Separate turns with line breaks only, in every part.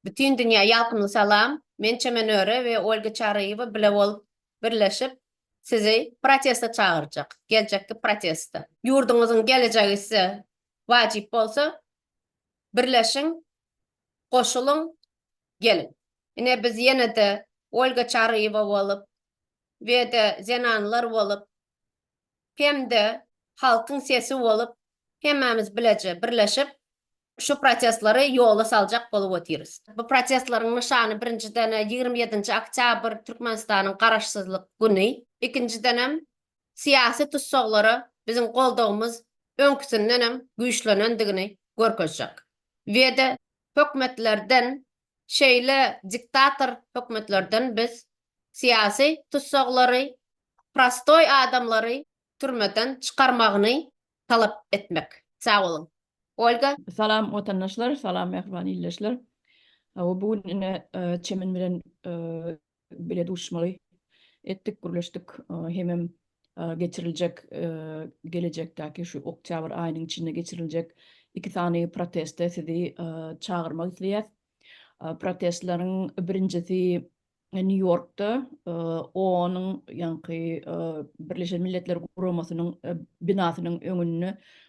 Bütin dünýä ýalkymly salam. Men Çemenöre we Olga Çaryýewa bile bolup, birleşip, sizi proteste çagyrjak. Geljekki proteste. Ýurduňyzyň gelejegi size wajyp bolsa, birleşiň, goşulyň, geliň. Ine biz ýene-de Olga Çaryýewa bolup we-de zenanlar bolup, hem-de halkyň sesi bolup, hemmämiz bileje birleşip, şu protestleri ýola saljak bolup otyrys. Bu protestleriň nyşany birinjiden ýigrimi ýedinji oktýabr Türkmenistanyň Garaşsyzlyk güni, ikinjidenem syýasy tussaglara biziň goldawymyz öňküsindenem güýçlenendigini görkezjek we-de hökümetlerden şeýle diktator hökümetlerden biz syýasy tussaglary, prostoý adamlary türmeden çykarmagyny talap etmek. Sag boluň. Olga. Salam watandaşlar, salam mähriban ildeşler. Hawa bu gün ine Çemen bilen bile duşmaly etdik, gürleşdik. Hemem geçiriljek gelejekdäki şu oktýabr aýynyň içinde geçiriljek iki sany proteste sizi çagyrmak isleýäs. Protestleriň birinjisi Nýu-Ýorkda OON-yň ýaňky Birleşen Milletler Guramasynyň binasynyň öňünde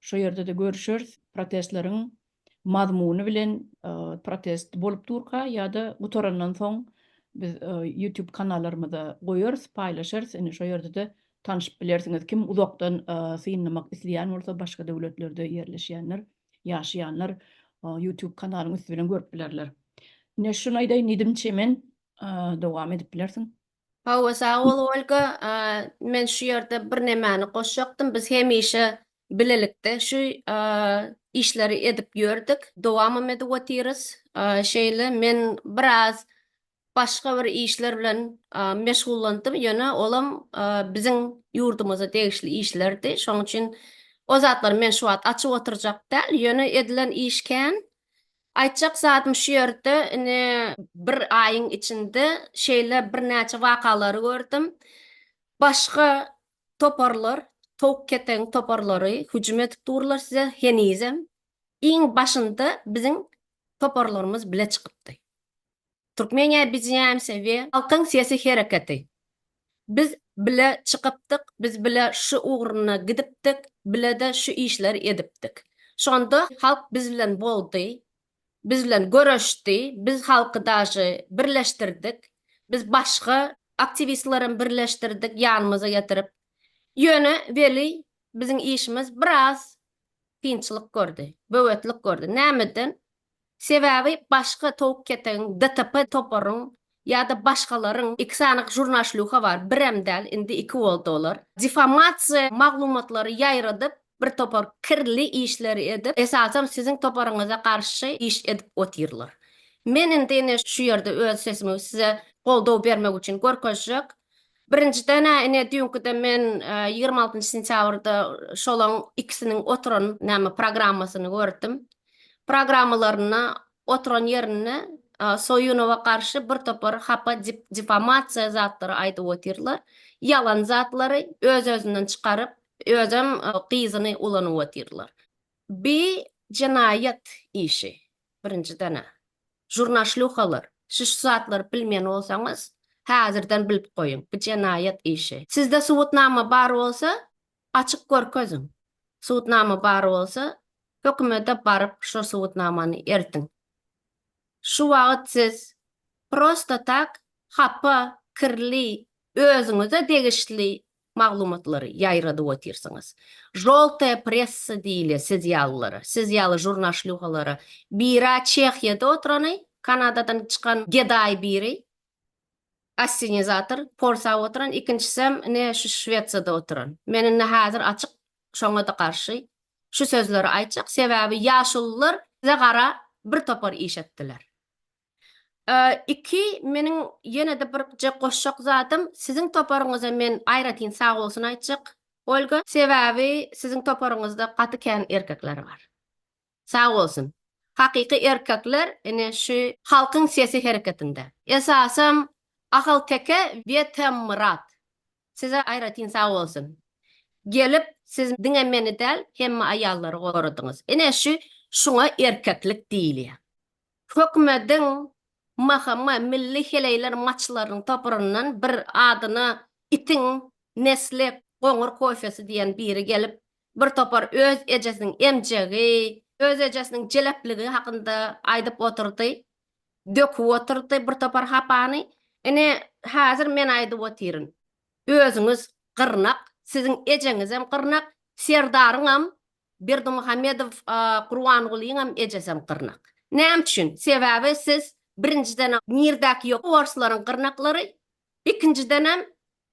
Şo ýerde-de görüşeris. Protestleriň mazmuny bilen protest bolup durka ýa-da gutarandan soň biz YouTube kanallarymyza goýarys, paýlaşarys. Indi şo ýerde-de tanşyp bilersiňiz. Kim uzakdan synlamak isleýän bolsa, başga döwletlerde ýerleşýänler, ýaşaýanlar YouTube kanalyň üsti bilen görüp bilerler. Ine şuny aýdaýyn diýdim, Çemen, dowam edip bilersiň. Hawa, sag bol, Olga. Men şu ýerde birnämäni goşjakdym. Biz hemişe bilelikde şu işleri edip ýördük, dowamam edip otyrys. Şeýle men biraz başga bir işler bilen meşgullandym, ýöne olam biziň ýurdumyza degişli işlerdi. Şonuň üçin o zatlary men şu wagt açyp oturjak däl, ýöne edilen iş kän. Aýtjak zadym şu ýerde, ine, bir aýyň içinde şeýle birnäçe wakalary gördüm. Başga toparlar, towuk-keteň toparlary hüjüm edip durlar size henizem. Iň başynda biziň toparlarymyz bile çykypdy. Türkmeniýa biziňämse we. Halkyň sesi hereketi. Biz bile çykypdyk, biz bile şu ugruna gidipdik, bile-de şu işleri edipdik. Şonda halk biz bilen boldy, biz bilen göreşdi, biz halky daşy birleşdirdik, biz başga aktiwistlerem birleşdirdik ýanymyza getirip. Ýöne weli biziň işimiz biraz kynçylyk gördi, böwetlik gördi. Nämeden? Sebäbi başga towuk ketegiň DTP toparyň ýa-da başgalaryň iki sany žurnaşlýuha bar, birem däl, indi iki boldy olar. Difamasiýa maglumatlary ýaýradyp, bir topar kirli işleri edip, esasan siziň toparyňyza garşy iş edip otyrlar. Men indi ine şu ýerde öz sesimi size goldaw bermek üçin görkezjek. Birinjiden-ä ine düýnküde men ýigrimi altynjy sentýabrda şolaň ikisiniň oturan näme programmasyny gördüm. programmalarynda oturan ýerinde Soýunowa garşy bir topar hapa difamasiýa zatlary aýdyp otyrlar. Ýalan zatlary öz-özünden çykaryp, özem gyzyny ulanyp otyrlar. Bi jenaýat işi birinjidena. Žurnaşluhalar, siz şu zatlary bilmeýän bolsaňyz, häzirden bilip goýuň, bi jenaýat işi. Sizde subutnama bar bolsa, Açyp görkeziň. Subutnama bar bolsa, hökümete baryp şo subutnamany eltiň. Şu wagyt siz prosta tak hapa, kirli, özüňize degişli maglumatlary ýaýradyp otyrsyňyz. Žoltaýa pressa diýilýär siz ýalylara, siz ýaly žurnaşlýuhalara. Bira Çehiýada oturany, Kanadadan çykan gedaý biri. Assenizator Polsa oturan ikinçisem ine şu Şwesiýada oturan. Men indi häzir açyk şoňada garşy şu sözleri aýtjak sebäbi ýaşulylar bize gara bir topar iş etdiler. Iki meniň ýenede birje goşjak zadym siziň toparyňyza men aýratyn sagbolsun aýtjak Olga sebäbi siziň toparyňyzda gaty kän erkekler bar. Sag bolsun. Hakyky erkekler ine şu Halkyň sesi hereketinde. Esasam Ahalteke we Temmyrat. Size aýratyn sag bolsun. Gelip siz diňe meni däl hemme aýallary goradyňyz. Ine şu şuňa erkeklik diýilýär. Hökümediň MHM milli heleýler maçlarynyň toparyndan bir adyna itiň nesli goňur kofesi diýen biri gelip Bir topar öz ejesiniň emjegi, öz ejesiniň jelepligi hakynda aýdyp otyrdy. Döküp otyrdy bir topar hapany. Ine, häzir men aýdyp otyryn. Özüňiz gyrnak, siziň ejeňizem gyrnak, serdaryňam, Berdimuhamedow Gurbangulynyňam ejesem gyrnak. Näme üçin? Sebäbi siz birinjiden nirdäki ýok orslaryň gyrnaklary, Ikinjidenem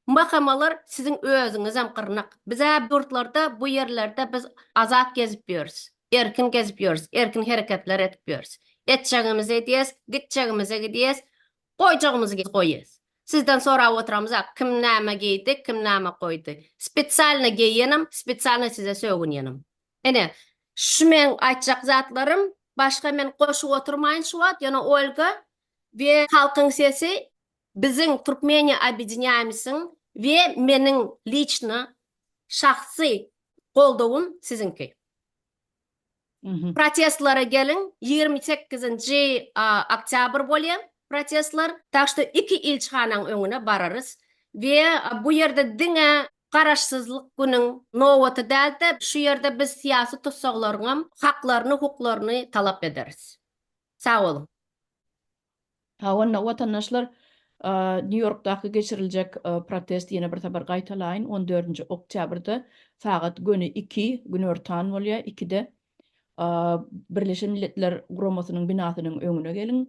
mahamalar siziň özüňizem gyrnak. Bizä ýurtlarda bu ýerlerde biz azat gezip ýörüs. Erkin gezip ýörüs, erkin hereketler edip ýörüs. Etjegimizi edýäs, gitjegimize gidýäs, goýjagymyzy goýýas. Sizden sorap oturamyzak, kim näme geýdi, kim näme goýdy. Spesialno geýenem, spesialno size sögünýenem. Ine, şu meň aýtjak zatlarym. Başga men goşup oturmaýyn şu wagt, ýöne Olga we Halkyň sesi Biziň Türkmeniýa Obýedinýaýmysyň we meniň liçno, şahsy, goldawym siziňki. Protestlere geliň, ýigrimi sekizinji oktýabr bolýa protestler, tak şto iki ilçihanaň öňüne bararys we bu ýerde diňe Garaşsyzlyk günüň nobaty däl-de, şu ýerde biz syýasy tussaglaryňam haklaryny, hukuklaryny talap ederis. Sag boluň. Hawa, watandaşlar, Nýu-Ýorkdaky geçiriljek protest, ýene bir sapar gaýtalaýyn, on dördünji oktýabrda sagat göni iki, günortan bolýar, ikide Birleşen Milletler Guramasynyň binasynyň öňüne geliň.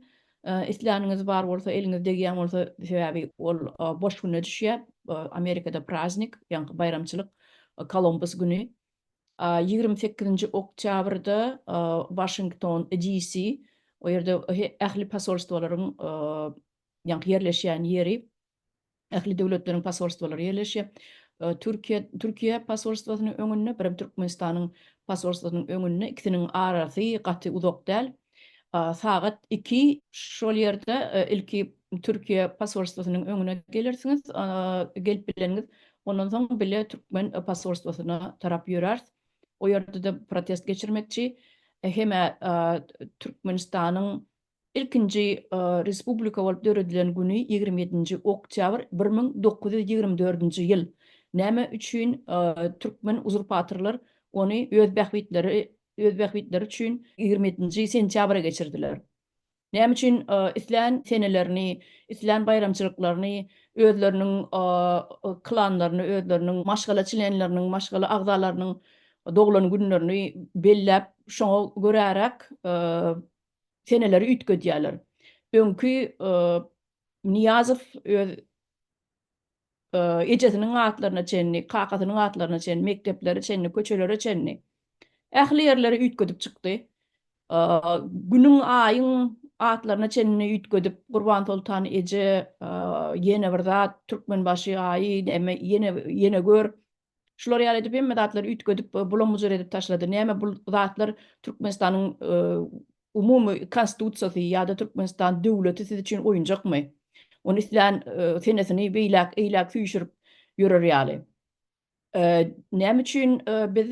Isläniňiz bar bolsa, eliňiz degýän bolsa, sebäbi ol boş güne düşýär, Amerikada praznik, ýaňky baýramçylyk, Kolumbus güni, Ýigrimi sekizinji oktýabrda Waşington, DC, o ýerde ähli posolstwalaryň ýaňky ýerleşýän ýeri, ähli döwletleriň posolstwalary ýerleşýär. Türkiýe, Türkiýe posolstwasynyň öňünde, birem Türkmenistanyň posolstwasynyň öňünde, ikisiniň arasy gaty uzak däl. sagat iki. Şol ýerde ilki Türkiýe posolstwosynyň öňüne gelersiňiz, gelip bileniňiz, ondan soň bile türkmen posolstwosyna tarap ýöräris. O ýerde-de protest geçirmekçi. Hem-ä Türkmenistanyň ilkinji respublika bolup döredilen güni ýigrimi ýedinji oktýabr bir müň dokuz ýüz ýigrimi dördünji ýyl. Näme üçin türkmen uzurpatorlar ony öz bähbitleri öz bähbitleri üçin ýigrimi ýedinji sentýabra geçirdiler. Näme üçin islän senelerini, islän baýramçylyklaryny özleriniň klanlaryny, özleriniň maşgala çlenleriniň, maşgala agzalarynyň doglan günlerini belläp, şoňa göräräk seneleri üýtgedýärler? Öňki Nyýazow öz ejesiniň atlaryna çenli, kakasynyň atlaryna çenli, mekdeplere çenli, köçelere çenli ähli ýerleri üýtgedip çykdy. Günüň, aýyň atlaryna çenli üýtgedip, Gurbansoltan eje ýene bir zat, Türkmenbaşy aýy, ýene, ýene gör, Şular ýaly edip hemme zatlary üýtgedip bulam-bujur edip taşlady. Näme bul zatlar Türkmenistanyň umumy konstitusiýasy ýa-da Türkmenistan döwleti siz üçin oýunjakmy? Ony islän senesini beýläk, eýläk süýşürip ýörer ýaly. Näme üçin biz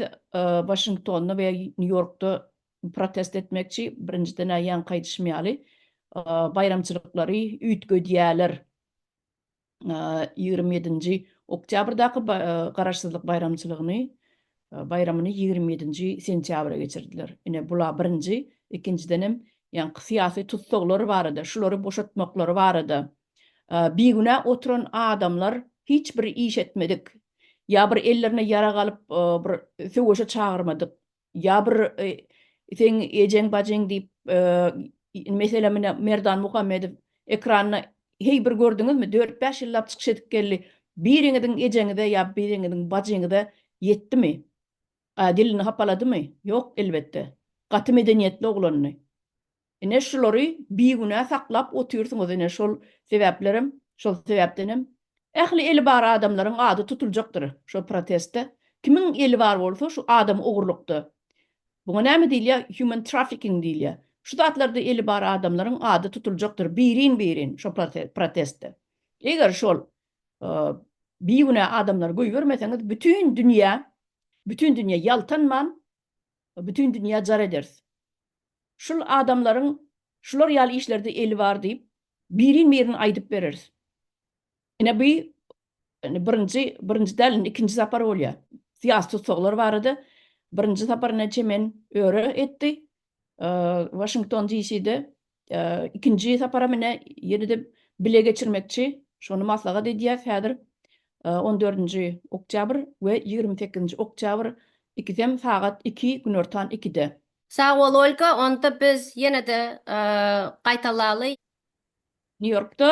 Waşingtonda we Nýu-Ýorkda protest etmekçi? Birinjiden-ä ýaňky aýdyşym ýaly baýramçylyklary üýtgedýäler. ýigrimi ýedinji oktýabrdaky Garaşsyzlyk baýramçylygyny baýramyny ýigrimi ýedinji sentýabra geçirdiler. Ine, bula birinji, ikinjidenem ýaňky syýasy tussaglar barada, şulary boşatmaklary barada bigünä oturan adamlar hiç bir iş etmedik, ýa bir ellerine ýarag alyp bir söweşe çagyrmadyk Ýa bir seň ejeň bajyň diýip meselem mine Merdan Muhammedow ekranda heý bir gördüňizmi dört bäş ýyllap çykyş edip geldi biriňiziň ejeňize ýa biriňiziň bajyňyza ýetdimi dilini hapaladymy ýok elbetde gaty medeniýetli oglandy Ine şulary bigünä saklap otyrsyňyz ine şol sebäplerem şol sebäpdenem ähli eli bar adamlaryň ady tutuljakdyr şo protestde kimiň eli bar bolsa şu adam ogurlykda buňa näme diýilýä human trafficking diýilýä şu zatlarda eli bar adamlaryň ady tutuljakdyr birin birin şo protestde eger şol bigünä adamlary goýbermeseňiz bütin dünýä bütin dünýä ýaltanman bütin dünýä jar ederis. Şul adamlaryň şular ýaly işlerde eli bar diýip, birin-birin aýdyp bereris. Ine bu indi birinji, birinji däl, indi ikinji sapar bolýar. Syýasy tussaglar barada birinji sapar ine Çemen öre etdi, Waşington DCde, ikinji saparam ine ýene-de bile geçirmekçi, şony maslahat edýäs häzir. On dördünji oktýabr we ýigrimi sekizinji oktýabr ikisem sagat iki, günortan ikide. Sag bol Olga, onda biz ýene-de gaýtalaly. New Yorkda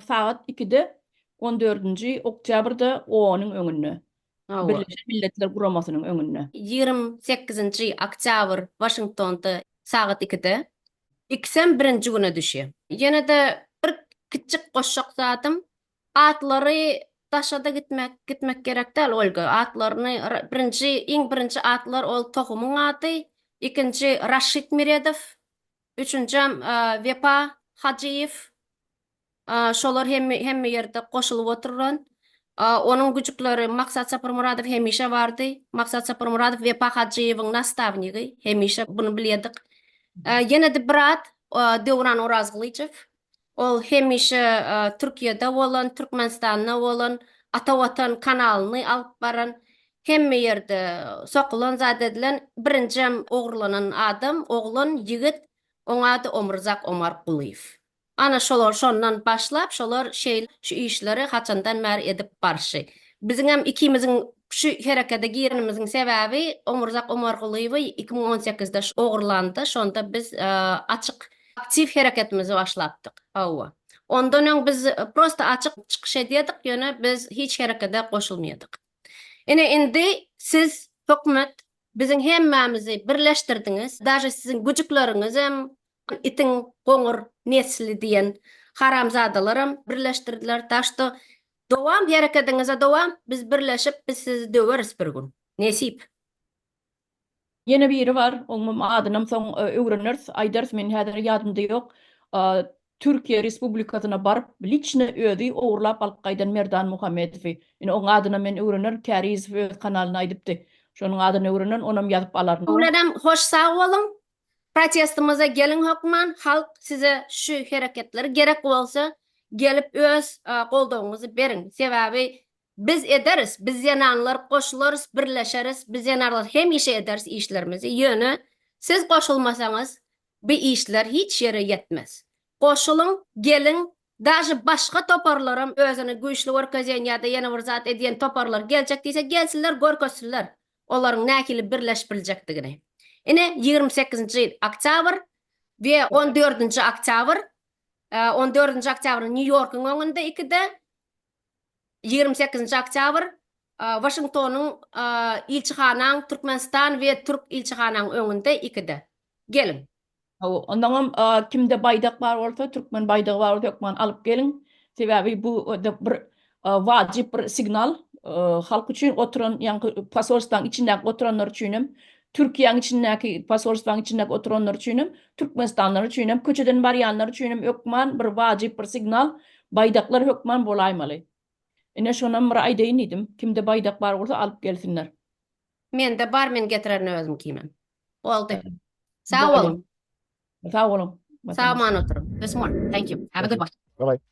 sagat ikide on dördünji oktýabrda OONyň öňünde, Birleşen Milletler Guramasynyň öňünde. Ýigrimi sekizinji oktýabr Waşingtonda sagat ikide. Ikisem birinji güne düşýär. Ýene-de bir kiçjik goşjak zadym, Atlary daşada gitmek gitmek gerek däl Olga atlaryny birinji iň birinji atlar ol tohumyň ady ikinji Raşid Miredow üçünjem Wepa Hajyýew şolar hemme hemme ýerde goşulyp oturan onuň güjükleri Maksat Saparmyradow hemişe bardy Maksat Saparmyradow Wepa Hajyýewiň nastawnigi hemişe bunu bilýedik ýenede bir at Döwran Orazgylyjow Ol hemişe Türkiýede bolan, Türkmenistanda bolan, Ata Watan kanalyny alyp baran, hemme ýerde sokulan zat edilen, birinjem ogurlanan adam, oglan, ýigit, oň ady Omrzak Omarkulyýew. Ana şolar şondan başlap, şolar şeýle şu işleri haçandan bäri edip barşy. Biziňem ikimiziň şu herekede girenimiziň sebäbi Omrzak Omarkulyýewi iki müň on sekizde ogurlandy, şonda biz açyk Aktiw hereketimizi başlapdyk. Hawa. Ondan öň biz prosta açyk çykyş edýärdik, ýöne biz hiç herekede goşulmaýardyk. Ine, indi siz, hökümet, biziň hemmämizi birleşdirdiňiz, daže siziň güjükleriňizem, itiň goňur nesli diýen haramzadalaram birleşdirdiler. Tak što, dowam, herekediňize dowam, biz birleşip, biz sizi döweris bir gün. Nesip. Ýene biri bar, oňam adynam soň öwreneris, aýdarys, meniň häzir ýadymda ýok. Türkiýe Respublikasyna baryp, liçno özi ogurlap alyp gaýdan Merdan Muhammedowy. Ine, oň adynam men öwrenerin, Kärizow öz kanalynda aýdypdy. Şonuň adyny öwrenerin, onam ýazyp alaryn. Öwrenem, hoş sag boluň. Protestimize geliň hökman, halk size şu hereketleri gerek bolsa gelip öz goldawyňyzy beriň. Sebäbi Biz ederis, biz zenanlar goşularys, birleşeris, biz zenarlar hemişe ederis işlerimizi, ýöne siz goşulmasaňyz bi işler hiç ýere ýetmez. Goşulyň, geliň, daže başga toparlaram özüni güýçli görkezýän ýa-da ýene bir zat edýän toparlar geljek diýse gelsinler görkezsinler olaryň nähili birleşip biljekdigini. Ine ýigrimi sekizinji oktýabr we on dördünji oktýabr, on dördünji oktýabr Nýu-Ýorkuň öňünde ikide, Ýigrimi sekizinji oktýabr, Waşingtonyň Ilçihanaň Türkmenistan we Türk ilçihanaň öňünde ikide. Geliň. Hawa, ondaňam kimde baýdak bar bolsa, türkmen baýdagy bar bolsa hökman alyp geliň. Sebäbi bu bir wajyp bir signal. Halk üçin oturan, ýaňky posolstwaň içindäki oturanlar üçin hem Türkiýäň içindäki, posolstwaň içindäki oturanlar üçinem, türkmenistanlylar üçinem, köçeden barýanlar üçinem hökman bir wajyp bir signal, baýdaklar hökman bolaýmaly. Ine, şonam bir aýdaýyn diýdim. Kimde baýdak bar bolsa, alyp gelsinler. Mende bar, men getirerin özüm kimem. Boldy. Sag boluň. Sag boluň. Sag man oturyň. This one. Thank you. Have a good one. Bye bye.